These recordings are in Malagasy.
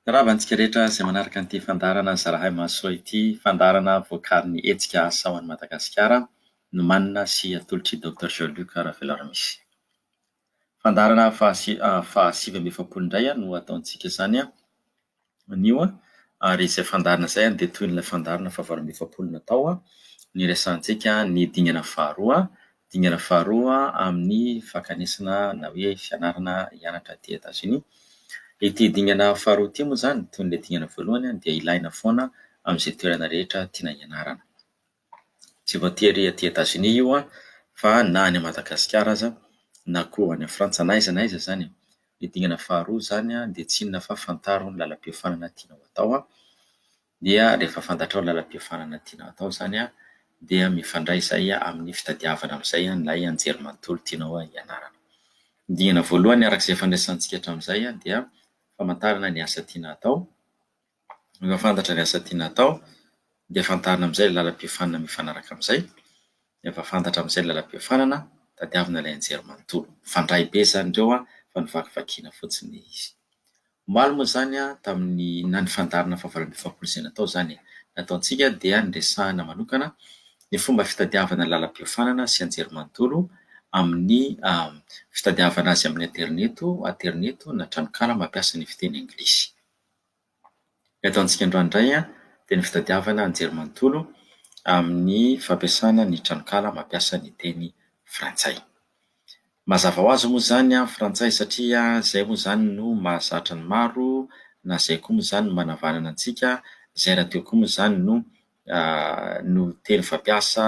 Miarahaba antsika rehetra izay manaraka ity fandaharana Zarahay Mahasoa ity, fandaharana vokarin'ny hetsika Asa ho an'i Madagasikara, nomanina sy atolotra i Docteur Jean Luc Raveloramisy. Fandaharana fahasi- fahasivy amby efapolo indray no ataontsika izany an! anio ary izay fandaharana izay dia toy ilay fandaharana fahavalo amby efapolo natao niresahantsika ny dingana faharoa, dingana faharoa amin'ny fakanesana na hoe fianarana hianatra aty Etazonia. Ity dingana faharoa ity moa izany toy ilay dingana voalohany dia ilaina foana amin'izay toerana rehetra tiana hianarana. Tsy voatery aty Etazonia io an, fa na any Madagasikara aza na koa any Frantsa na aiza na aiza izany e. Ny dingana faharoa izany dia tsy inona fa fantaro ny lalam-piofanana tianao atao an, dia rehefa fantatrao ny lalam-piofanana tianao atao izany an, dia mifandray izay amin'ny fitadiavana amin'izay ilay anjerimanontolo tianao hianarana. Ny dingana voalohany araka izay efa niresahantsika hatramin'izay dia famantarana ny asa tiana atao. Rehefa fantatra ny asa tiana atao dia fantarina amin'izay ilay lalam-piofanana mifanaraka amin'izay. Rehefa fantatra amin'izay ny lalam-piofanana, tadiavina ilay nijery manontolo. Mifandray be izany ireo fa novakivakiana fotsiny izy. Omaly moa izany tamin'ny na ny fandaharana faha valo ambin'ny efapolo izay natao izany e. Ny ataontsika dia niresahana manokana ny fomba fitadiavana ny lalam-piofanana sy anjerimanontolo amin'ny fitadiavana azy amin'ny aterineto, aterineto na tranonkala mampiasa ny fiteny anglisy. Ny ataontsika androany indray dia ny fitadiavana anjery manontolo amin'ny fampiasana ny tranonkala mampiasa ny teny frantsay. Mazava ho azy moa izany ny frantsay satria izay moa izany no mahazatra ny maro na izay koa moa izany no manavanana antsika, izay rahateo koa moa izany no no teny fampiasa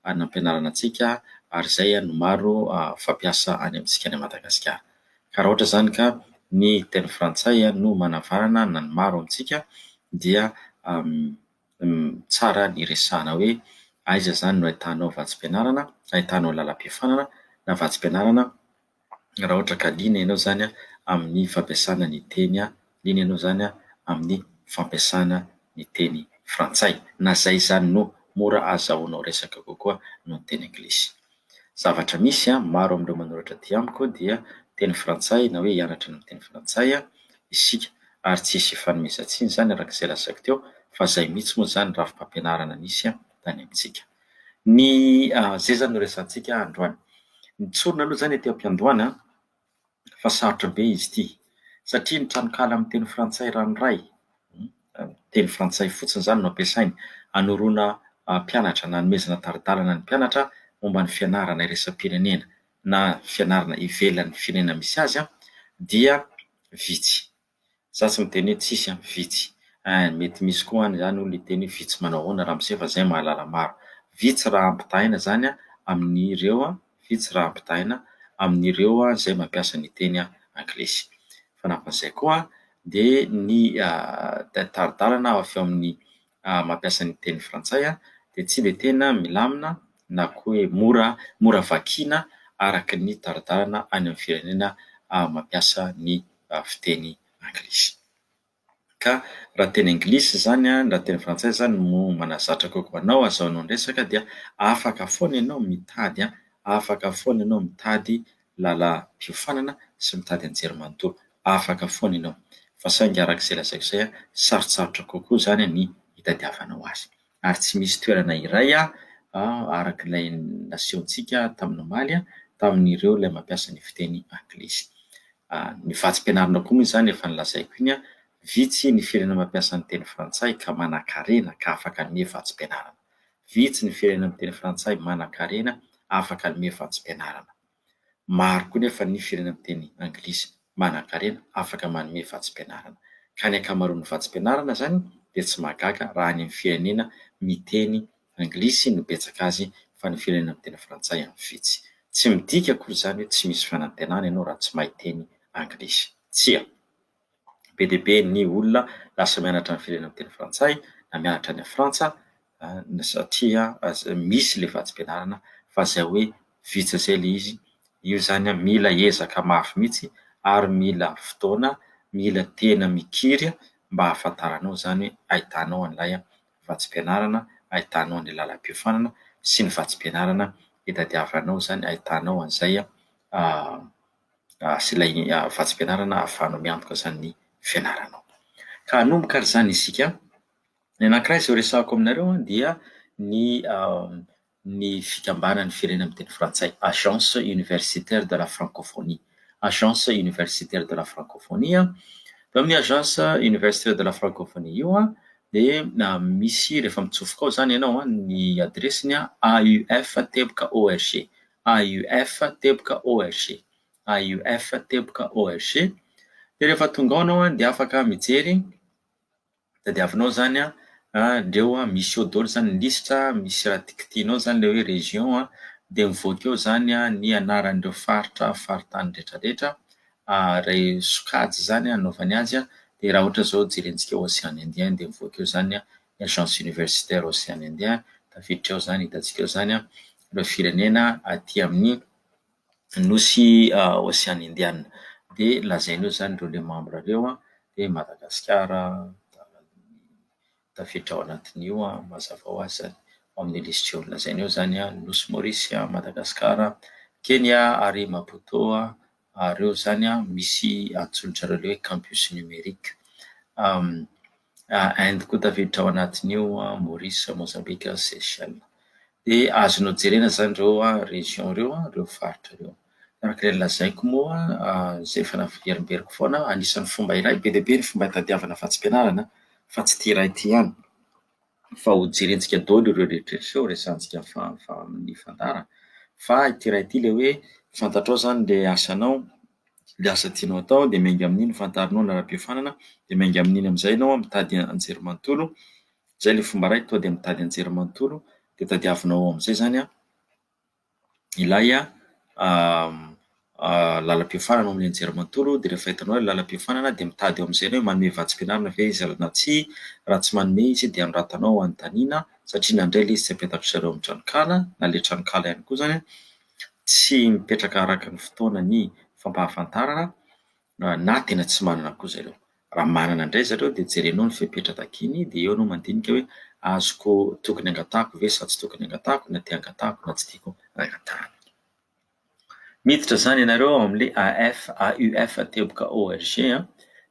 any am-pianarana antsika ary izay no maro fampiasa any amintsika any Madagasikara. Ka raha ohatra izany ka ny teny frantsay no manavanana na ny maro amintsika dia tsara ny resahana hoe aiza izany no ahitanao vatsim-pianarana, ahitanao lalam-piofanana na vatsim-pianarana. raha ohatra ka liana ianao izany amin'ny fampiasana ny teny, liana ianao izany amin'ny fampiasana ny teny frantsay, na izay izany no mora ahazahoanao resaka kokoa noho ny teny anglisy. Zavatra misy, maro amin'ireo manoratra aty amiko dia teny frantsay na hoe hianatra ny miteny frantsay isika ary tsy hisy hifanomezan-tsiny izany araka izay lazaiko teo fa izay mihitsy moa izany rafi-pampianarana nisy tany amintsika. Ny zeza no resahantsika androany. Ny tsorina aloha izany aty am-piandohana fa sarotra be izy ity satria ny tranonkala amin'ny teny frantsay ranoray, teny frantsay fotsiny izany no ampiasainy hanoroana mpianatra na hanomezana tari-dalana ny mpianatra momba ny fianarana iraisam-pirenena na fianarana ivelan'ny firenena misy azy dia vitsy. Za tsy miteny hoe tsisy an, vitsy. Ein, mety misy koa any zany olona hiteny hoe vitsy manao ahoana ramose fa zay mahalala maro. Vitsy raha ampitahaina zany an amin'ireo an, vitsy raha ampitahaina amin'ireo an zay mampiasa ny teny anglisy. Fanampin'izay koa an, dia ny tari-dalana avy eo amin'ny mampiasa ny teny frantsay an, dia tsy dia tena milamina na koa hoe mora mora vakiana araka ny tari-dalana any amin'ny firenena mampiasa ny fiteny anglisy. Ka raha teny anglisy izany na teny frantsay izany no manazatra kokoa anao hazahoanao ny resaka dia afaka foana ianao mitady an, afaka foana ianao mitady lalam-piofanana sy mitady anjerimanontolo, afaka foana ianao. Fa saingy araka izay lazaiko izay an, sarotsarotra kokoa izany ny hitadiavanao azy. ary tsy misy toerana iray araka ilay nasehontsika tamin'ny omaly tamin'ireo ilay mampiasa ny fiteny anglisy. Ny vatsim-pianarana koa moa izany efa nolazaiko iny, vitsy ny firenena mampiasa ny teny frantsay ka manankarena ka afaka hanome vatsim-pianarana. Vitsy ny firenena miteny frantsay manankarena afaka hanome vatsim-pianarana. Maro koa nefa ny firenena miteny anglisy manankarena afaka manome vatsim-pianarana. Ka ny ankamaroan'ny vatsim-pianarana izany dia tsy mahagaga raha any amin'ny firenena miteny anglisy no betsaka azy fa ny firenena miteny frantsay any vitsy. Tsy midika akory izany hoe tsy misy fanantenana ianao raha tsy mahay teny anglisy. Tsia. be dia be ny olona lasa mianatra ny firenena miteny frantsay na mianatra any Frantsa satria misy ilay vatsim-pianarana fa izay hoe vitsy izay ilay izy. Io izany mila ezaka mafy mihitsy ary mila fotoana, mila tena mikiry mba hahafantaranao izany hoe ahitanao an'ilay vatsim-pianarana, ahitanao an'ilay lalam-piofanana sy ny vatsim-pianarana itadiavanao izany, ahitanao an'izay. sy ilay vatsim-pianarana ahafahanao miantoka izany fianaranao. Ka hanomboka ary izany isika. Ny anankiray izay horesahako aminareo dia ny ny fikambanan'ny firenena miteny frantsay, Agence Universitaire de la Francophonie. Agence Universitaire de la Francophonie. Teo amin'ny Agence Universitaire de la Francophonie io dia misy rehefa mitsofoka ao izany ianao ny adiresiny AUF teboka org. AUF teboka org, AUF teboka org, dia rehefa tonga ao ianao an dia afaka mijery, tadiavinao izany an, ndreo an, misy eo daholo izany ny lisitra, misy raha tikitinao izany ilay hoe région an, dia mivoaka eo izany an ny anaran'ireo faritra, faritany rehetrarehetra, iray sokajy izany an anaovany azy an, dia raha ohatra izao jerentsika ocean indien dia mivoaka eo izany an, ny Agence Universitaire Ocean Indien, tafiditra ao izany, hitantsika ao izany ireo firenena aty amin'ny nosy Ocean Indianina. Dia lazainy eo izany ireo le mambra ireo, dia Madagasikara tafiditra ao anatin'io mazava ho azy izany, ao amin'ny lisitra eo. Lazainy eo izany ny nosy Maorisy, Madagasikara, Kenia ary Maputo. ary eo zany a misy antsoin'drareo le hoe campus numerique Inde koa tafiditra ao anatin'io an, Maurice, Mozambika, Seychelles. De azonao jerena zany reo region reo a, reo faritra reo. Araka le nolazaiko moa zay efa naverimberiko foana anisan'ny fomba iray be dia be ny fomba itadiavana vatsim-pianarana fa tsy ty iray ty ihany. fa ho jerentsika daholo ireo rehetra ireo, resahantsika fa fa amin'ny fandara, fa ity iray ity le hoe fantatrao zany le asanao, le asa tianao atao de miainga amin'iny fantarinao ny rahampiofanana de miainga amin'iny am'zay ianao mitady an-jery manontolo, zay le fomba iray, tonga de mitady an-jery manontolo de tadiavinao ao am'zay zany a. ilay lalam-piofanana ao amin'ny anjerimanontolo dia rehefa hitanao ilay lalam-piofanana dia mitady eo amin'izay ianao hoe manome vatsim-pianarana ve izy na tsia, raha tsy manome izy dia anoratanao anontaniana satria na indray ilay izy tsy apetaka ry zareo amin'ny tranonkala na ilay tranonkala ihany koa izany an, tsy mipetraka araka ny fotoana ny fampahafantarana. na tena tsy manana koa zareo, raha manana indray zareo dia jerenao ny fepetra takiany dia eo anao mandinika hoe azoko tokony angatahako ve sa tsy tokony angatahako na te angatahako na tsy tiako angatahana. Miditra izany ianareo ao amin'ilay AF, AUF, teboka ORG,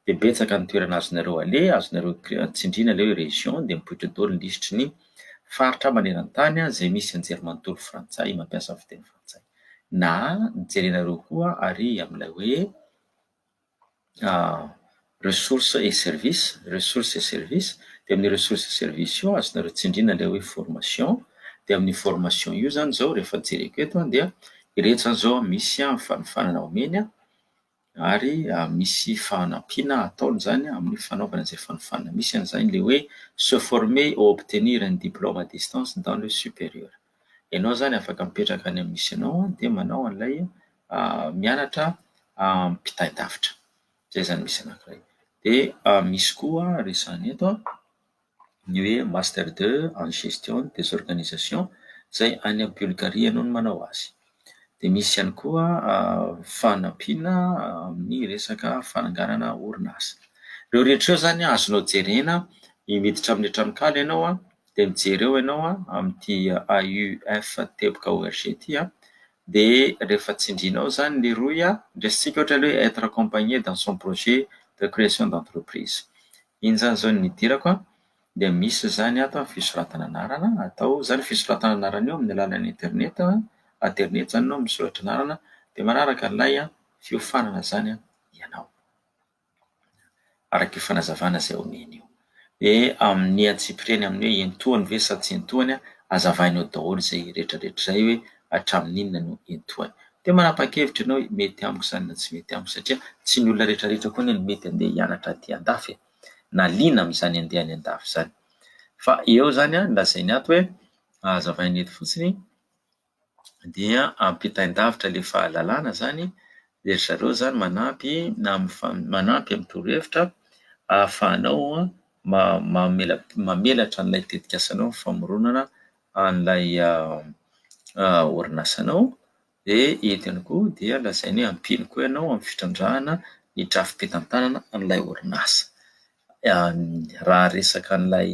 dia betsaka ny toerana azonareo aleha, azonareo tsindriana ilay hoe région, dia mipoitra daholo ny lisitry ny faritra maneran-tany izay misy anjerimanontolo frantsay mampiasa fiteny frantsay. Na jerenareo koa ary amin'ilay hoe ressources et services, ressources et services, dia amin'ny ressources et services io azonareo tsindriana ilay hoe formation, dia amin'io formation io zany zao rehefa jereko eto dia ireto zany zao misy fanofanana omeny ary misy fanampiana ataony izany amin'ny fanaovana izay fanofanana misy an'izany ilay hoe se former ou obtenir un diplôme à distance dans le supérieur, ianao izany afaka mipetraka any amin'ny misy anao dia manao an'ilay mianatra ampitain-davitra, izay izany misy anankiray, dia misy koa resahina eto a. ny hoe Master ii en gestion des organisations izay any Bulgarie ianao no manao azy. Dia misy ihany koa fanampiana amin'ny resaka fananganana orinasa. Ireo rehetra ireo izany azonao jerena, miditra amin'ny tranonkala ianao dia mijery eo ianao amin'ity AUF teboka org ity Dia rehefa tsindrinao izany Leroy a, ndresitsika ohatra hoe être accompagné dans son projet de création d'entreprise. Iny zany zao no nidirako a, dia misy izany ato a fisoratana anarana, atao izany fisoratana anarana io amin'ny alalan'ny internet, aterineto izany no misoratra anarana, dia manaraka an'ilay fiofanana izany ianao. araka io fanazavana izay omeny io. Dia amin'ny antsipiriany amin'ny hoe entohany ve sa tsy entohany, azavaina eo daholo izay rehetrarehetra izay hoe hatramin'inona no entohany. Dia manapa-kevitra ianao hoe mety amiko izany na tsy mety amiko satria tsy ny olona rehetrarehetra koa anie no mety handeha hianatra aty an-dafy e, na liana amin'izany handeha any an-dafy izany. Fa eo izany lazainy ato hoe, hazavainy eto fotsiny, dia ampitain-davitra ilay fahalalana izany dia ry zareo izany manampy na amin'ny fa- manampy amin'ny torohevitra ahafahanao ma- mamela- mamelatra an'ilay tetikasanao ny famoronana an'ilay orinasanao. Dia eto ihany koa dia lazainy hoe ampino koa ianao amin'ny fitrandrahana ny drafi-pitantanana an'ilay orinasa. Raha resaka an'ilay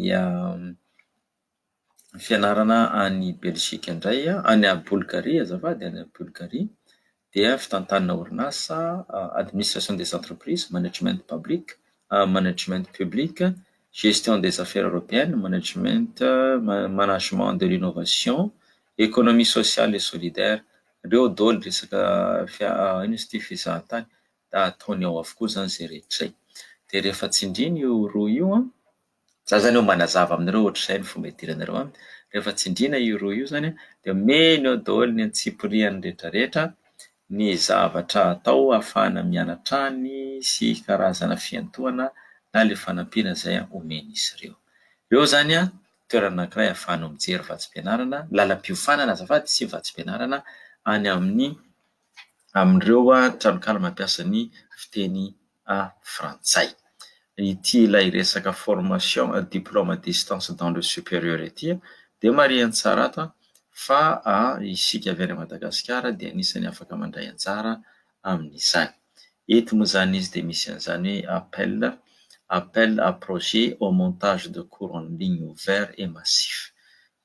fianarana any Belgique indray, any Bulgarie azafady, any Bulgarie dia fitantanana orinasa administration des entreprises, management public, management public, gestion des affaires européennes, management, management de l'innovation, économie sociale et solidaire, ireo daholo resaka fia- inona izy ity fizahantany, dia ataony ao avokoa izany izay rehetra izay, dia rehefa tsindriana io roa io an. Za zany eo manazava aminareo ohatr'izay ny fomba idiranareo a, rehefa tsindriana io rohy io zany a de omena eo daholo ny antsipiriany rehetrarehetra ny zavatra atao ahafahana mianatra any sy karazana fiantohana na le fanampiana zay omen'izy ireo. Eo zany a toerana anankiray ahafahanao mijery vatsim-pianarana, lalam-piofanana azafady sy vatsim-pianarana any amin'ny amin'ireo tranonkala mampiasa ny fiteny frantsay. Ity ilay resaka formation diplôme à distance dans le supérieur ity dia marihiny tsara ato fa isika avy any Madagasikara dia anisan'ny afaka mandray anjara amin'izany. Eto moa izany izy dia misy an'izany hoe appel, appel à projet au montage de cours en ligne ouvert et massif.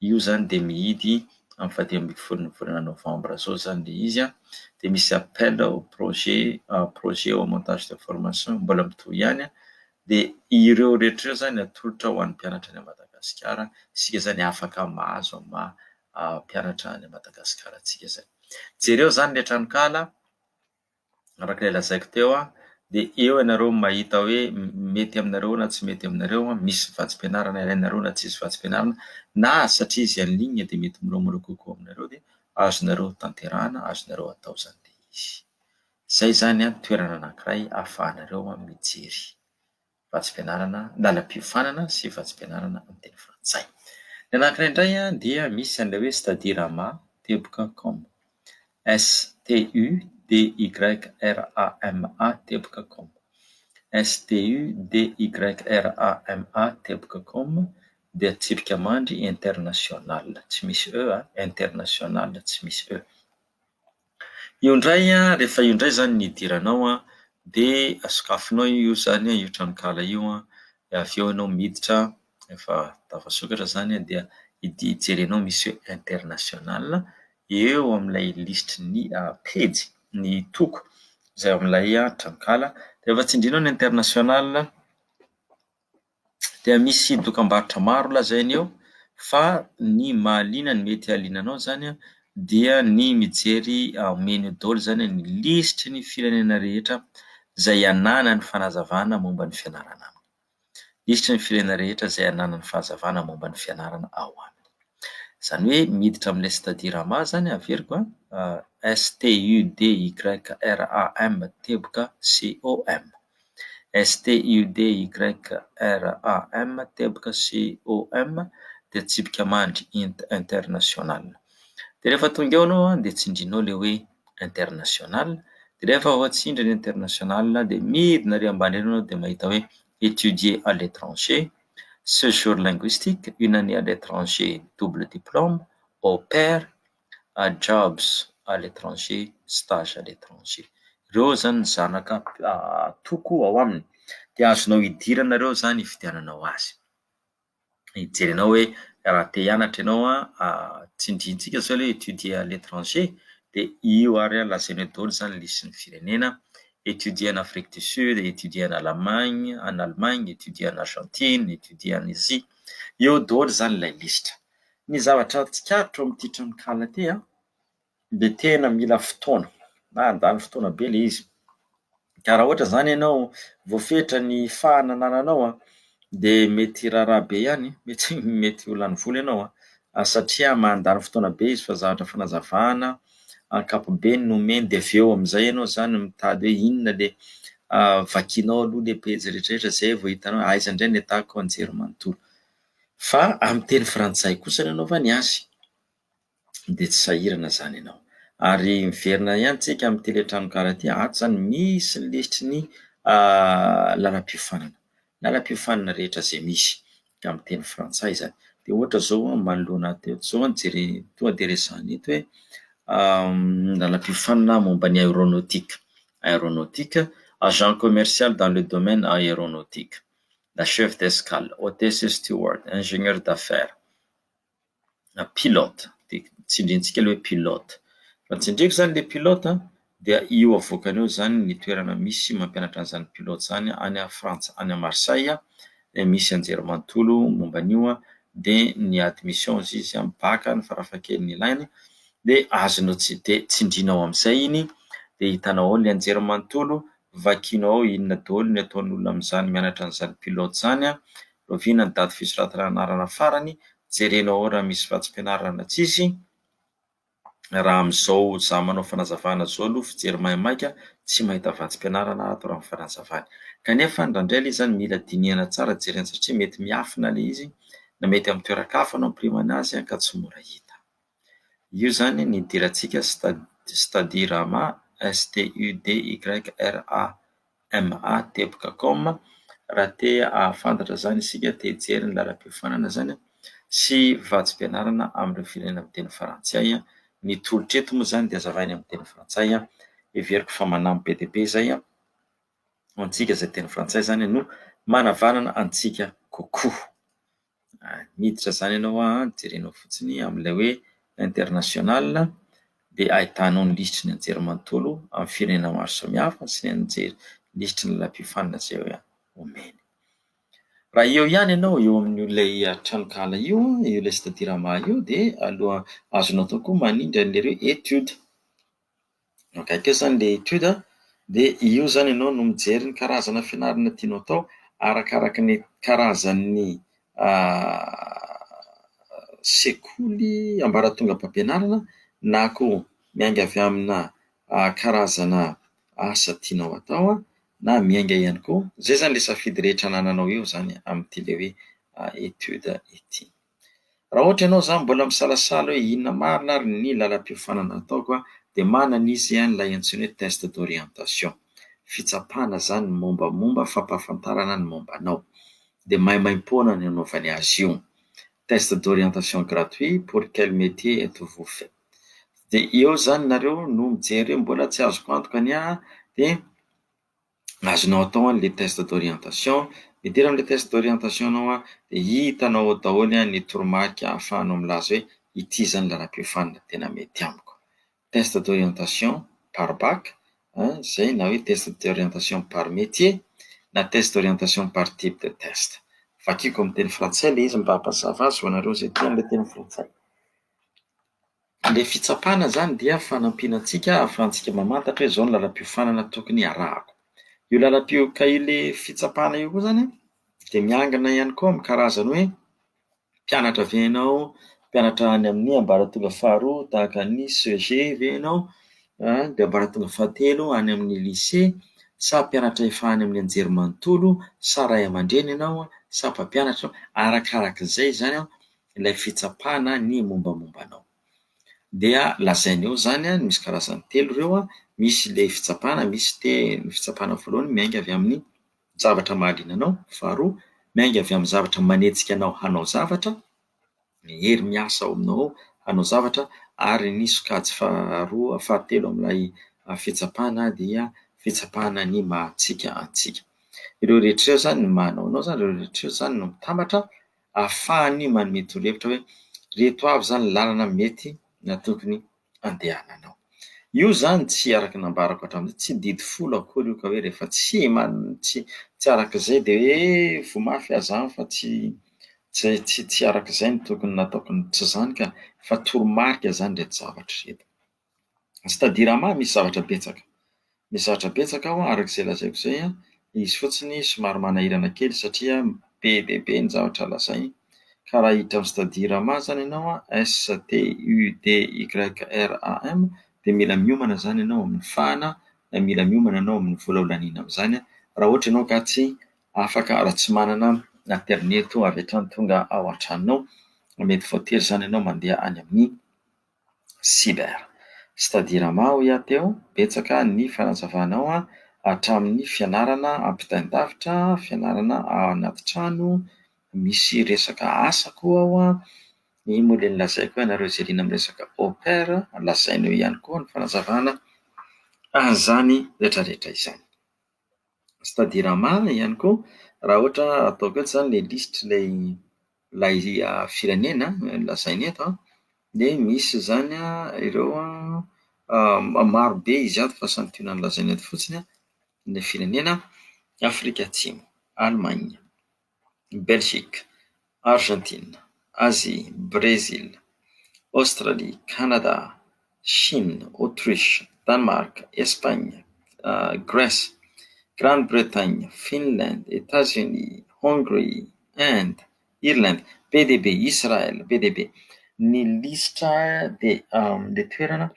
Io izany dia mihidy amin'ny faha dimy ambin'ny folon'ny volana novambra izao izany ilay izy an, dia misy appel ao projet projet au montage de formation mbola mitohy ihany an, dia ireo rehetra ireo izany atolotra ho an'ny mpianatra any à Madagasikara, isika izany afaka mahazo amin'ny maha mpianatra any à Madagasikara antsika izay. Jereo izany ilay tranonkala. araka ilay lazaiko teo a, dia eo ianareo no mahita hoe mety aminareo na tsy mety aminareo, misy vatsim-pianarana ilainareo na tsisy vatsim-pianarana, na satria izy en ligne dia mety miloamolao kokoa aminareo dia azonareo tanterahana, azonareo atao izany ilay izy. Izay izany an, toerana anankiray ahafahanareo mijery. vatsim-pianarana lalam-piofanana sy vatsim-pianarana amin'ny teny frantsay. Ny anankiray indray dia misy an'ilay hoe Studirama, teboka, com. STUDYRAMA, teboka, com. STUDYRAMA, teboka, com dia tsipika mandry international, tsy misy e, international, tsy misy e. Io indray rehefa io indray izany ny hidiranao an, dia sokafinao io izany io tranonkala io an, dia avy eo ianao miditra rehefa tafasokatra izany dia jerenao misy hoe international, eo amin'ilay lisitry ny pejy ny toko izay ao amin'ilay tranonkala, rehefa tsindrinao ny international. dia misy dokam-barotra maro lazainy eo fa ny mahaliana ny mety haliana anao izany dia ny mijery ao menu daholo izany ny lisitry ny firenena rehetra izay ananany fanazavana momba ny fianarana aminy, lisitry ny firenena rehetra izay ananany fahazavana momba ny fianarana ao aminy, izany hoe miditra amin'ilay stadiram izany averiko an, STUDYRAM teboka COM. STUDYRAM, teboka sy OM dia tsipika mandry, int international. Dia rehefa tonga eo ianao dia tsindrinao ilay hoe international, dia rehefa voatsindry ny international dia midina ary ambany ery ianao dia mahita hoe étudier à l'étranger, séjour linguistique, une année à l'étranger double diplôme, au pair. a jobs à l'étranger, stage à l'étranger. Ireo izany ny zanaka atoko ao aminy dia azonao idirana ireo izany ividiananao azy. Hijerenao hoe raha te hianatra ianao tsindrintsika izao ilay étudier à l'étranger dia io ary lazainao eo daholo izany lisitry ny firenena étudier en Afrique du Sud, étudier en Allemagne, en Allemagne, étudier en Argentine, étudier en Asie. Eo daholo izany ilay lisitra. Ny zavatra tsikaritra ao amin'ity tranonkala ity an, dia tena mila fotoana na handany fotoana be ilay izy. Ka raha ohatra izany ianao voafetra ny fahana anananao an, dia mety hiraharaha be ihany, mety mety ho lany vola ianao an, satria mandany fotoana be izy fa zavatra fanazavana ankapobeny no omeny dia avy eo amin'izay ianao izany mitady hoe inona ilay vakinao aloha ilay pejy rehetrarehetra izay vao hitanao aiza indray no ahitako anjerimanontolo. Fa amin'ny teny frantsay kosa ny anaovany azy dia tsy sahirana izany ianao. Ary miverina ihany tsika amin'ny tele Tranokala ity, ato izany misy ny lisitry ny lalam-piofanana, lalam-piofanana rehetra izay misy amin'ny teny frantsay izany. Dia ohatra izao manoloana ahy teto izao jere- tonga dia resahina eto hoe lalam-piofanana momba ny aeronautique, aeronautique, agent commercial dans le domaine aeronautique. na chef d'escale, hôtesse steward, ingénieur d'affaires, na pilote, dia tsindrintsika ilay hoe pilote. Raha tsindriako izany ilay pilote dia io avoakany eo izany ny toerana misy mampianatra an'izany pilote izany any Frantsa, any Marseille, dia misy anjerimanontolo momba an'io dia ny admission hozy izy bac ny farafahakeliny ilainy dia azonao, dia tsindrinao amin'izay iny dia hitanao ao ilay anjerimanontolo Vakino ao inona daholo ny ataon'olona amin'izany mianatra an'izany pilote izany an! Loviana ny daty fisoratana anarana farany, jerena ao raha misy vatsim-pianarana na tsisy, raha amin'izao za manao fanazavana zao aloha fijery maimaika tsy mahita vatsim-pianarana ato raha ny fanazavany. Kanefa ndraindray ilay izy zany mila dinihana tsara jerena satria mety miafina ilay izy na mety amin'ny toeran-kafa no ampirimana azy ka tsy mora hita. Io izany ny idirantsika Studirama, s t u d y r a m a teboka com. Raha te hahafantatra izany isika, te hijery ny lalam-piofanana izany sy vatsim-pianarana amin'ireo firenena miteny frantsay. Ny tolotra eto moa izany dia hazavaina amin'ny teny frantsay. Heveriko fa manampy be dia be izay ho antsika izay teny frantsay izany no manavanana antsika kokoa. miditra izany ianao an, jerenao fotsiny amin'ilay hoe international dia ahitanao ny lisitry ny anjerimanontolo amin'ny firenena maro samihafa sy ny anjely lisitry ny lalam-piofanana izay omeny. Raha eo ihany ianao eo amin'ilay tranonkala io, eo ilay Sitadiraha io dia aloha azonao atao koa manindry an'ilay hoe etude. Akaiky eo izany ilay étude an, dia io izany ianao no mijery ny karazana fianarana tianao atao arakaraka ny karazan'ny sekoly ambaratongam-pampianarana na koa miainga avy amina karazana asa tianao atao an, na miainga ihany koa, izay izany ilay safidy rehetra anananao eo izany amin'ity ilay hoe étude ity. Raha ohatra ianao izany mbola misalasala hoe inona marina ary ny lalam-piofanana ataoko dia manana izy ilay antsoina hoe test d'orientation. Fitsapana izany ny mombamomba fampahafantarana ny momba anao. Dia maimaim-poana ny anaovany azy io. Test d'orientation gratuit pour quel métier êtes-vous fait? Dia eo izany nareo no mijery hoe mbola tsy azoko antoka ny ahy dia azonao atao ny test d'orientation, miditra amin'ilay test d'orientation ianao an, dia hitanao ao daholo ny toromarika ahafahanao milaza hoe ity izany lalam-piofanana tena mety amiko, test d'orientation par bac an, izay na hoe test d'orientation par métier na test d'orientation par type de test, vakiko amin'ny teny frantsay ilay izy mba hampazava azy ho anareo izay tia an'ilay teny frantsay. Ilay fitsapana izany dia fanampiana antsika ahafahantsika mamantatra hoe izao ny lalam-piofanana tokony harahako. Io lalam-pio- ka ilay fitsapana io koa izany an, dia miangona ihany koa amin'ny karazan'ny hoe mpianatra ve ianao, mpianatra any amin'ny ambaratonga faharoa tahaka ny CEG ve ianao, dia ambaratonga fahatelo any amin'ny lycée, sa mpianatra efa any amin'ny anjerimanontolo, sa ray aman-dreny ianao, sa mpampianatra, arakarak'izay izany an, ilay fitsapana ny mombamomba anao. Dia lazainy eo izany a, misy karazany telo ireo a, misy ilay fitsapana, misy te- ny fitsapana voalohany miainga avy amin'ny zavatra mahaliana anao, faharoa miainga avy amin'ny zavatra manetsika anao hanao zavatra, ny hery miasa ao aminao ao hanao zavatra ary ny sokajy faharoa fahatelo amin'ilay fitsapana dia fitsapana ny maha antsika antsika. Ireo rehetra ireo izany no manao anao izany, ireo rehetra ireo izany no mitambatra. ahafahany manome torohevitra hoe ireto avy izany ny lalana mety na tokony handehananao. Io izany tsy araka ny nambarako hatramin'izay, tsy didy folo akory io ka hoe rehefa tsy man- tsy tsy araka izay dia hoe voa mafy aza aho fa tsy tsy tsy tsy araka izay no tokony nataoko, tsy izany ka, fa toromarika izany ireto zavatra ireto. C'est-à-dire ama misy zavatra betsaka. Misy zavatra betsaka ao araka izay lazaiko izay an, izy fotsiny somary manahirana kely satria be dia be ny zavatra lazainy ka raha hiditra amin'ny c'est-à-dire ama izany ianao an, STUDYRAM, dia mila miomana izany ianao amin'ny fahana na mila miomana ianao amin'ny vola ho laniana amin'izany raha ohatra ianao ka tsy afaka raha tsy manana aterineto avy hatrany tonga ao an-tranonao. Mety voatery izany ianao mandeha any amin'ny Cyber. C'est-à-dire ama hoy aho teo, betsaka ny fanazavanao an, hatramin'ny fianarana ampitain-davitra, fianarana ao anaty trano, misy resaka asa koa ao an, iny moa dia nolazaiko hoe ianareo izay liana amin'ny resaka au pair, lazainao ihany koa ny fanazavana an'izany rehetra rehetra izany. c'est-à-dire marina ihany koa raha ohatra ataoko eto izany ilay lisitr'ilay ilay firenena lazaina eto an, dia misy izany ireo an, marobe izy ato fa santionany lazaina eto fotsiny an, ny firenena Afrika Atsimo, Allemagne. Belgique, Argentine, Asie, Brésil, Australie, Canada, Chine, Autriche, Danemark, Espagne, Grèce, Grande Bretagne, Finland, Etats Unis, Hongrie, Inde, Irlande, be dia be, Israël, be dia be. Ny lisitra dia le toerana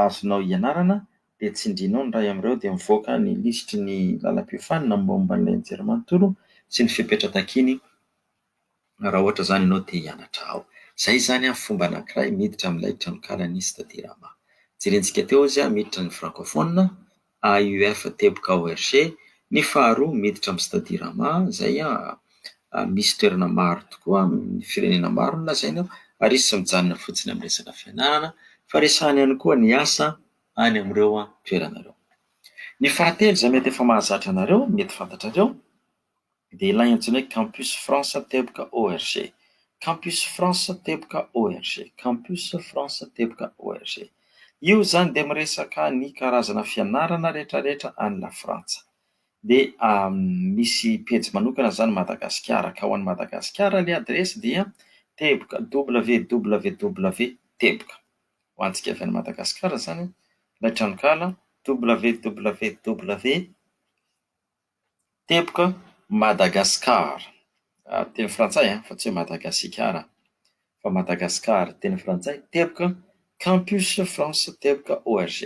azonao ianarana. dia tsindriana ao ny iray amin'ireo dia mivoaka ny lisitry ny lalam-piofanana mombamomba an'ilay nijery manontolo sy ny fepetra takiany raha ohatra izany ianao te hianatra ao. Izay izany an, fomba anankiray miditra amin'ilay tranonkala nisy tao Dirama. Jerentsika teo izy an, miditra ny Francophone, AUF teboka ORG, ny faharoa miditra amin'ny Stade Dirama, izay an, misy toerana maro tokoa amin'ny firenena maro no lazainy ao ary izy tsy mijanona fotsiny amin'ny resaka fianarana fa resahany ihany koa ny asa, any amin'ireo toerana ireo. Ny fahatelo izay mety efa mahazatra anareo, mety fantatrareo, dia ilay antsoina hoe Campus France Teboka ORG. Campus France Teboka ORG, Campus France Teboka ORG. Io izany dia miresaka ny karazana fianarana rehetrarehetra any Lafrantsa. Dia misy pejy manokana izany Madagasikara, ka ho an'i Madagasikara ilay adiresy dia teboka, www. Teboka. ho antsika avy any Madagasikara izany ilay tranonkala www.tebokmadagascar, teny frantsay fa tsy hoe Madagasikara fa Madagasikara teny frantsay, teboka, campus france teboka org.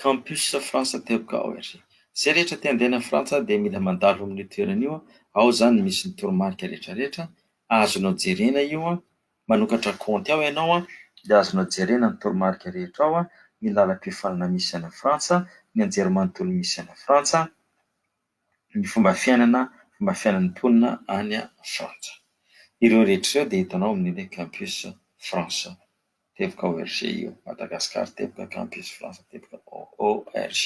Campus Frantsa Teboka ao ery. Izay rehetra te handeha any Frantsa dia mila mandalo amin'io toerana io, ao izany misy ny toromarika rehetra rehetra, azonao jerena io, manokatra kaonty ao ianao dia azonao jerena ny toromarika rehetra ao, ny lalam-piofanana misy any Frantsa, ny anjerimanontolo misy any Frantsa, ny fomba fiainana, fomba fiainan'ny mponina any Frantsa. Ireo rehetra ireo dia hitanao amin'ilay Campus Frantsa Teboka ORG io, Madagascar Teboka Campus Frantsa Teboka ORG.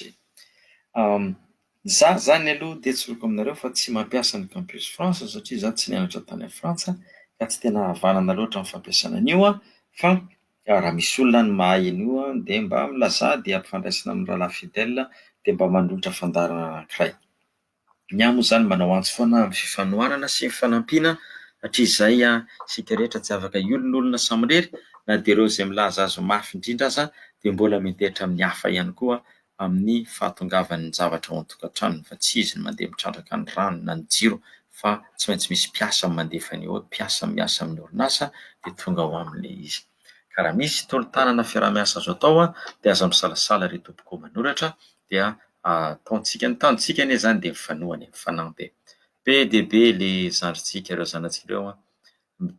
Za zany aloha dia tsoriko aminareo fa tsy mampiasa ny Campus Frantsa satria za tsy nianatra tany a Frantsa ka tsy tena havanana loatra ny fampiasana an'io an, fa raha misy olona any mahay an'io an dia mba milazà dia ampifandraisina amin'ny rahalahy Fidèle dia mba manolotra fandaharana anankiray. Ny ahy moa izany manao antso foana amin'ny fifanohanana sy fifanampiana hatrizay isika rehetra tsy afaka hiolonolona samirery na dia ireo izay milaza azy ho mafy indrindra aza dia mbola miantehitra amin'ny hafa ihany koa amin'ny fahatongavan'ny zavatra ao an-tokantranony fa tsy izy no mandeha mitrandraka ny rano na ny jiro fa tsy maintsy misy mpiasa mandefa ny mpiasa miasa amin'ny orinasa dia tonga ao aminy ilay izy. Ka raha misy tolo-tanana fiaraha-miasa azo atao an, dia aza misalasala ry tompoko manoratra dia ataontsika. Ny tanjontsika anie izany dia mifanohana e, mifanampy e. Be dia be le zandrintsika ireo zanatsika ireo an,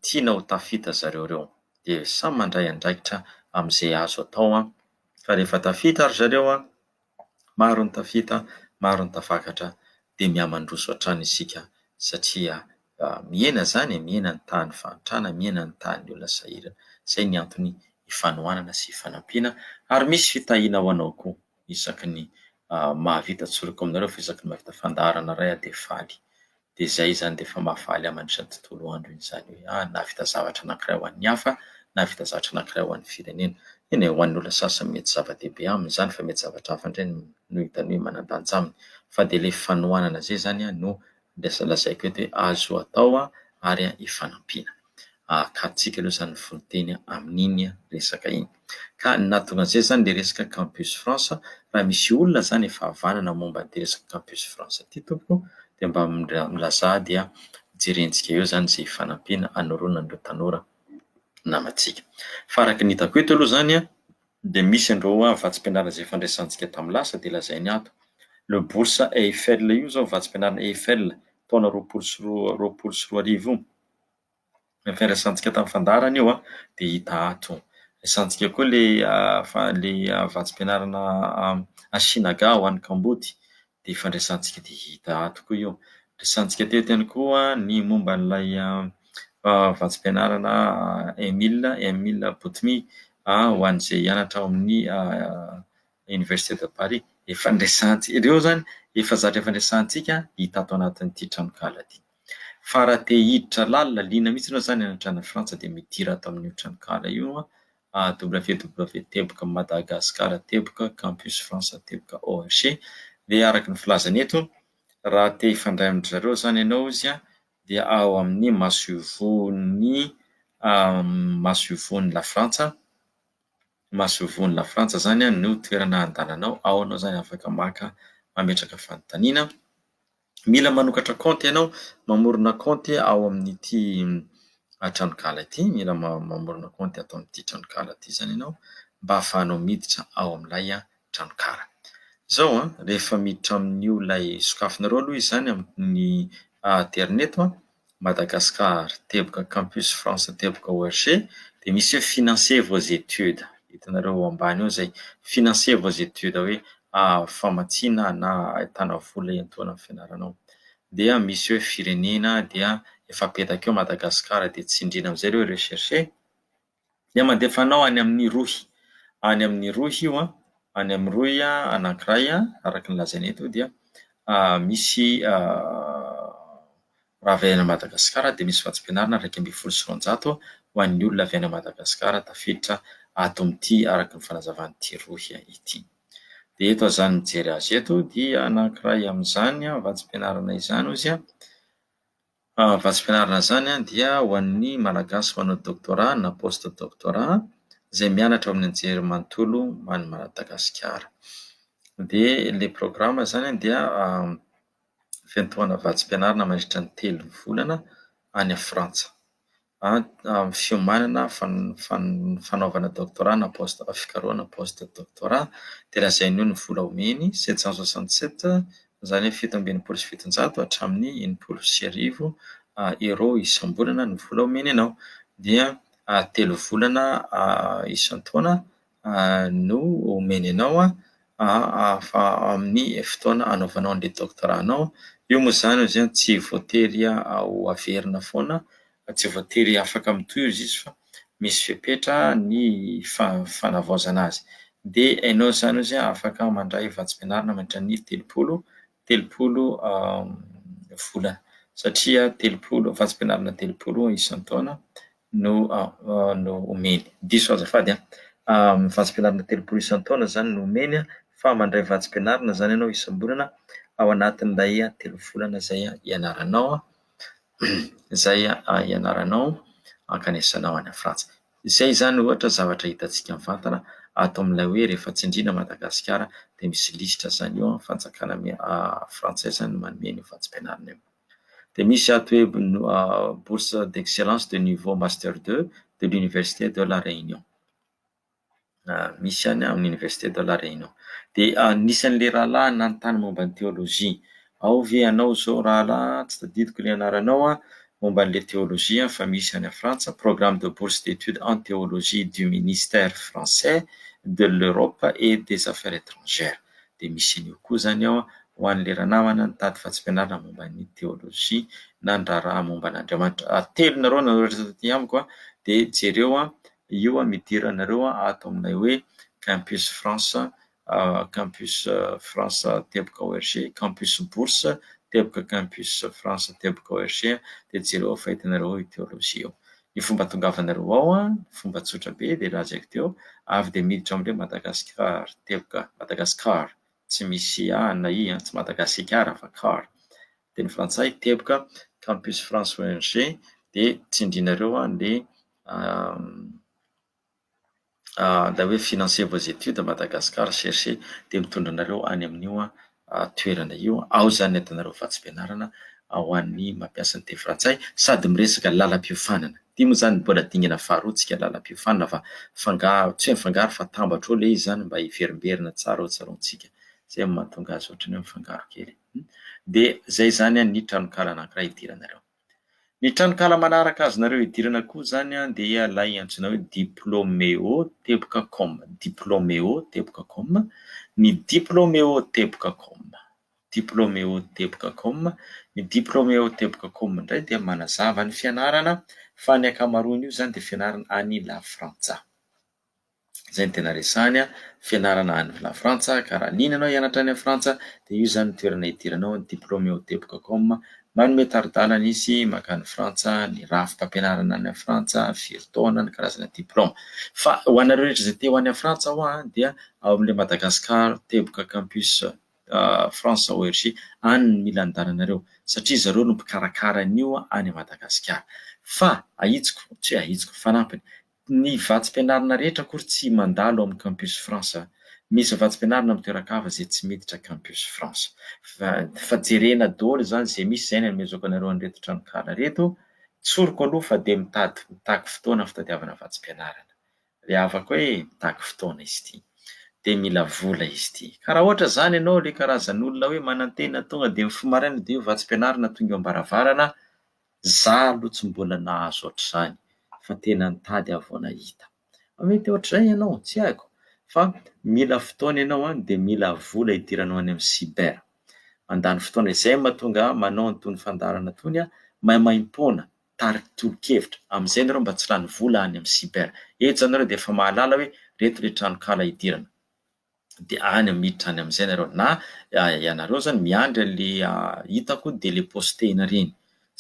tiana ho tafita zareo ireo. Dia samy mandray andraikitra amin'izay azo atao an, fa rehefa tafita ry zareo an, Maro ny tafita, maro ny tafakatra dia mihamandroso hatrany isika satria mihena izany e, mihena ny tahan'ny fahantrana, mihena ny tahan'ny olona sahirana. Izay ny antony ifanohanana sy ifanampiana ary misy fitahiana ho anao koa isaky ny mahavita tsoriko aminareo fa isaky ny mahavita fandaharana iray aho dia faly. dia izay izany dia efa mahafaly aman izany tontolo andro iny izany hoe ah nahavita zavatra anankiray ho an'ny hafa, nahavita zavatra anankiray ho an'ny firenena. Eny e, ho an'ny olona sasany mety zava-dehibe aminy izany fa mety zavatra hafa indray no hitany hoe manan-danja aminy. Fa dia ilay fanohanana izay izany no andrasana lazaiko eto hoe azo atao ary ifanampiana. ahakantsika aloha izany fononteny amin'iny resaka iny. Ka ny nahatonga an'izay izany dia resaka Campus France, raha misy olona izany efa havanana momba an'ity resaka Campus France ity tompoko dia mba milazà dia jerentsika eo izany izay fanampiana hanoroana an'ireo tanora namantsika. Fa araka ny hitako eto aloha izany dia misy an'ireo vatsim-pianarana izay efa niresahantsika tamin'ny lasa dia lazainy ato, le bourse Eiffel io izao, vatsim-pianarana Eiffel, taona roapolo sy roa roapolo sy roa arivo io, Fifandraisantsika tamin'ny fandaharana io an, dia hita ato. Resahantsika koa ilay fa- ilay vatsim-pianarana Ashinagà ho an'ny Kambody, dia ifandraisantsika dia hita ato koa io. Resahantsika teto ihany koa ny momba an'ilay vatsim-pianarana Emil Emil Botmy ho an'izay hianatra ao amin'ny Université de Paris. Ifandraisantsika, ireo izany efa zatra ifandraisantsika hita ato anatin'ity tranonkala ity. Fa raha te hiditra lalina, liana mihitsy ianao izany hanatrana an'i Frantsa dia midira ato amin'io tranonkala io a www teboka madagascar teboka campus france teboka org dia araka ny filazany eto raha te hifandray amin-dry zareo izany ianao izy a dia ao amin'ny masoivohon'ny masoivohon'i Lafrantsa masoivohon'i Lafrantsa izany no toerana handehananao, ao ianao izany afaka maka mametraka fanontaniana. Mila manokatra kaonty ianao, mamorona kaonty ao amin'ity tranonkala ity, mila mamorona kaonty ato amin'ity tranonkala ity izany ianao mba hahafahanao miditra ao amin'ilay tranonkala. Izao an, rehefa miditra amin'io ilay sokafanareo aloha izy izany amin'ny aterineto. Madagascar, teboka Campus France teboka ORG, dia misy hoe financer vos études. Hitanareo eo ambany eo izay, financer vos études hoe famatsiana na ahitana vola iantohana ny fianaranao. Dia misy hoe firenena dia efa apetaka eo Madagascar dia tsindriana amin'izay ireo recherche. Dia mandefa anao any amin'ny rohy. Any amin'ny rohy io an, any amin'ny rohy anankiray araka ny lazainy eto dia misy raha avy any Madagasikara dia misy vatsim-pianarana iraika ambin'ny folo sy roanjato ho an'ny olona avy any Madagasikara tafiditra ato amin'ity araka ny fanazavan'ity rohy ity. Dia eto aho mijery azy eto dia anankiray amin'izany vatsim-pianarana izany hozy an. Vatsim-pianarana izany dia ho an'ny Malagasy manao doctorat na post doctorat izay mianatra ao amin'ny anjerimanontolo an'i Madagasikara. Dia ilay programa izany dia fiantohana vatsim-pianarana mandritra ny telo volana any Frantsa. amin'ny fiomanana, fanaovana doctorat na post, fikarohana post doctorat, dia lazainy eo ny vola omeny, sept cent soixante sept, izany hoe fito amby enimpolo sy fitonjato hatramin'ny enimpolo sy arivo euros isam-bolana no vola omeny anao. Dia telo volana isan-taona. no omeny anao fa amin'ny fotoana anaovanao an'ilay doctorat anao, io moa zany ozy a tsy voatery ho averina foana fa tsy voatery afaka mitohy ozy izy fa misy fepetra ny fa- fanavaozana azy, dia enao zany ozy a afaka mandray vatsim-pianarana mandritran'ny telopolo telopolo volana satria telopolo vatsim-pianarana telopolo isan-taona no no omeny. Diso azafady an! vatsim-pianarana telopolo isan-taona izany no omeny fa mandray vatsim-pianarana izany ianao isam-bolana ao anatin'ilay telo volana izay ianaranao izay ianaranao hankanesanao any Frantsa. Izay izany ohatra zavatra hitantsika mivantana ato amin'ilay hoe rehefa tsindriana Madagasikara dia misy lisitra izany eo amin'ny fanjakana frantsay izany manome an'io vatsim-pianarana io. Dia misy ato hoe bourse d'excellence de niveau master deux de l'université de la Réunion. misy any amin'ny Université de la Réunion. Dia anisan'ilay rahalahy nanontany momba ny teolojia. Ao ve ianao izao rahalahy, tsy tadidiko ilay anaranao an, momba an'ilay teolojia fa misy any Frantsa, programme de bourse d'étude en théologie du ministère français de l'Europe et des affaires étrangères. Dia misy an'io koa izany ao ho an'ilay ranamana nitady fahasiam-pianarana momba ny teolojia na ny raharaha momba an'Andriamanitra. Telo nareo no nanoratra taty amiko dia jereo an, Io an idiranareo an ato aminay hoe Campus France Campus France teboka ORG Campus Bourse teboka Campus France teboka ORG dia jereo fa hitanareo ao io Théologie io. Ny fomba hatongavanareo ao an, fomba tsotra be dia lazaiko teo, avy dia miditra amin'ilay Madagascar teboka Madagascar tsy misy a na i an, tsy Madagasikara fa car teny frantsay teboka Campus France ORG dia tsindrinareo an ilay ilay hoe financer vos études à Madagascar cherchez dia mitondra anareo any amin'io toerana io, ao izany ny atanareo vatsim-pianarana ho an'ny mampiasa ny teny frantsay sady miresaka lalam-piofanana, ity moa izany mbola dingana faharoa tsika lalam-piofanana fa fangaro, tsy hoe mifangaro fa atambatra eo ilay izy izany mba hiverimberina tsara eo an-tsaroantsika, izay no mahatonga azy ohatran'ny hoe mifangaro kely, dia izay izany ny tranonkalan'ankiray hidiranareo. Ny tranonkala manaraka azonareo idirana koa izany dia ilay antsoina hoe Diplomeo teboka com, Diplomeo teboka com, ny Diplomeo teboka com, Diplomeo teboka com, ny Diplomeo teboka com indray dia manazava ny fianarana fa ny ankamaroan'io izany dia fianarana any Lafrantsa. Izay no tena resahany an! Fianarana any Lafrantsa ka raha an'iny ianao hianatra any Frantsa dia io izany no toerana hidiranao ny diplôme eo Debcocom. Manome tari-dalana izy mankany Frantsa, ny rafi-pampianarana any Frantsa, firy taona, ny karazana diplôme. Fa ho anareo rehetra izay te ho any Frantsa ho'a dia ao amin'ilay Madagascar teboka campus France ORG any no mila andehananareo satria zareo no mpikarakara an'io any Madagasikara. Fa ahitsiko, tsy hoe ahitsiko, fanampiny, Ny vatsim-pianarana rehetra akory tsy mandalo amin'ny Campus France. Misy vatsim-pianarana amin'ny toeran-kafa izay tsy miditra Campus France. Fa jerena daholo izany izay misy izay ny anomezako anareo an'ireto tranonkala ireto. Tsoriko aloha fa dia mitady mitaky fotoana fitadiavana vatsim-pianarana. Ilay havako hoe mitaky fotoana izy ity. Dia mila vola izy ity. Ka raha ohatra izany ianao ilay karazan'olona hoe manantena tonga dia mifoha maraina dia io vatsim-pianarana tonga eo am-baravarana. Za aloha tsy mbola nahazo ohatr'izany fa tena nitady aho vao nahita. Mety ohatr'izay ianao, tsy haiko fa mila fotoana ianao any dia mila vola hidiranao any amin'ny cyber. Mandany fotoana izay mahatonga ahy manao an'itony fandaharana itony aho, maimaimpoana, tarika tolo-kevitra, amin'izay ianareo mba tsy lany vola any amin'ny cyber. Eto izao ianareo dia efa mahalala hoe ireto ilay tranonkala hidirana. dia any miditra any amin'izay nareo na ianareo zany miandry anle hitako dia le postena reny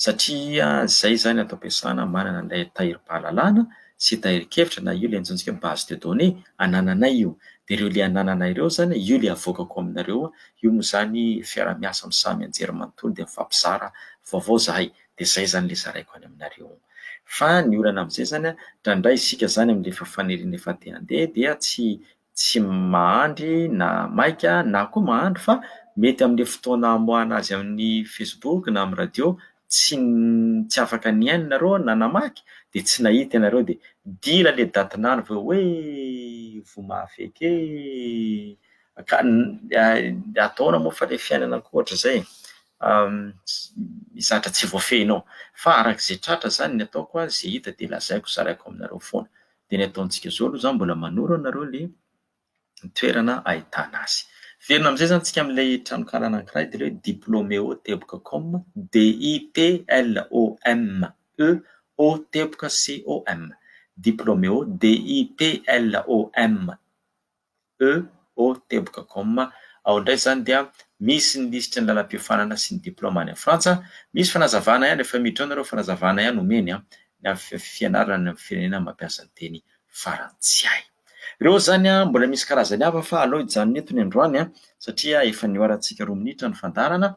satria zay zany ato am-piasana manana an'ilay tahirim-pahalalana sy tahirin-kevitra na io le antsointsika hoe base de données anananay io dia ireo le anananay ireo zany io le avoakako aminareo io moa zany fiaraha-miasa amin'ny samy an-jery manontolo dia mifampizara vaovao zahay dia zay zany le zaraiko any aminareo fa ny olana amin'izay zany an, raha ndray isika zany amin'le fanerenana efa te handeha dia tsy tsy mahandry na maika na koa mahandry fa mety amin'ilay fotoana hamoahana azy amin'ny facebook na amin'ny radio tsy tsy afaka nihaino nareo na namaky dia tsy nahita ianareo dia dila ilay datin'andro avy eo hoe voa mahafeky ee ka ataona moa fa ilay fiainana ankoatr'izay misy zatra tsy voafehinao fa arak'izay tratra zany ny ataoko a zay hita dia lazaiko zaraiko aminareo foana Dia ny ataontsika izao aloha izany mbola manoro anareo ilay toerana ahitana azy. Velona amin'izay izany isika amin'ilay tranonkala anankiray dia ilay hoe Diplomeo teboka com, D-i-p-l-o-m-e-o teboka C-o-m, Diplomeo, D-i-p-l-o-m-e-o. EO teboka com ao indray izany dia misy ny lisitry ny lalam-piofanana sy ny diplaoma any Frantsa, misy fanazavana ihany efa miditra ao nareo fanazavana ihany omeny an, ny amin'ny fianarana any amin'ny firenena mampiasa ny teny farantsay. Ireo izany an, mbola misy karazany hafa fa aleo hijanona eto ny androany an, satria efa nihoarantsika roa minitra ny fandaharana,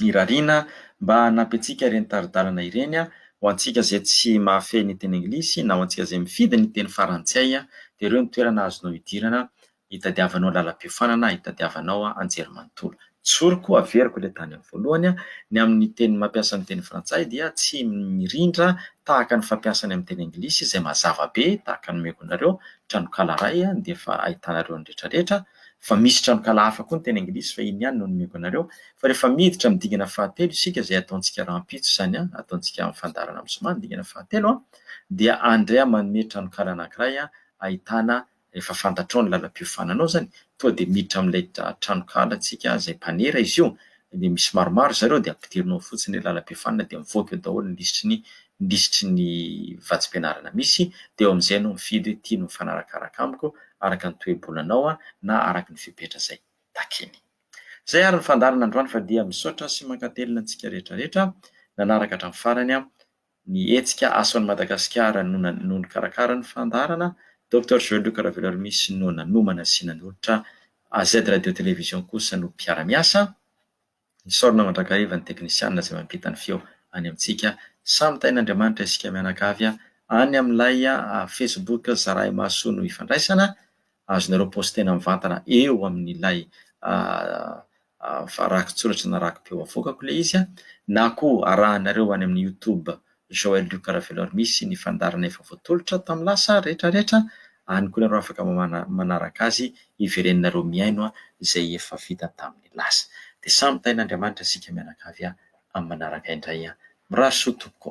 irariana mba hanampy antsika ireny tari-dalana ireny a! Ho antsika izay tsy mahafehy ny teny anglisy na ho antsika izay mifidy ny teny farantsay dia ireo ny toerana azonao idirana hitadiavanao lalam-piofanana, hitadiavanao anjerimanontolo. Tsoriko, averiko ilay tany amin'ny voalohany, ny amin'ny teny mampiasa ny teny frantsay dia tsy mirindra tahaka ny fampiasa ny amin'ny teny anglisy izay mazava be tahaka ny omeko anareo, tranonkala iray dia efa ahitanareo ny rehetrarehetra, Fa misy tranonkala hafa koa ny teny anglisy fa iny ihany no nomeko anareo. Fa rehefa miditra amin'ny dingana fahatelo isika izay ataontsika rahampitso izany an, ataontsika amin'ny fandaharana amin'ny zoma ny dingana fahatelo an, dia andray aho manome tranonkala anankiray ahitana, rehefa fantatrao ny lalam-piofanana ao izany, toa dia miditra amin'ilay tranonkala tsika izay mpanera izy io, dia misy maromaro izay ireo dia ampidinao ao fotsiny ilay lalam-pihafanana dia mivoaka eo daholo ny lisitry ny lisitry ny vatsim-pianarana misy dia eo amin'izay ianao mifidy hoe ity no mifanarakaraka amiko araka ny toe-bolanao na araka ny fepetra izay takiny. Izay ary ny fandaharana androany fa dia misaotra sy mankatelina antsika rehetra rehetra nanaraka hatramin'ny farany Ny hetsika Aso an'i Madagasikara no na no nikarakara ny fandaharana, Doctor Joël Luc Raveloarimihy sy no nanomana sy nanolotra, AZ Radio Télévision kosa no mpiara-miasa, isaorana mandrakariva ny teknisianina izay mampita ny feo any amintsika, samy tahin'Andriamanitra isika mianakavy a, any amin'ilay Facebook Zarahy Mahasoa no ifandraisana, azonareo postena mivantana eo amin'ilay rakitsoratra na rakipeo avoakako ilay izy na koa arahanareo any amin'ny youtube Joël Luc Ravelor misy ny fandaharana efa voatolotra tamin'ny lasa rehetra rehetra any koa ianareo afaka manaraka azy hivereninareo mihaino izay efa vita tamin'ny lasa dia samy tahin'Andriamanitra isika mianakavy amin'ny manaraka indray mirary soa tompoko.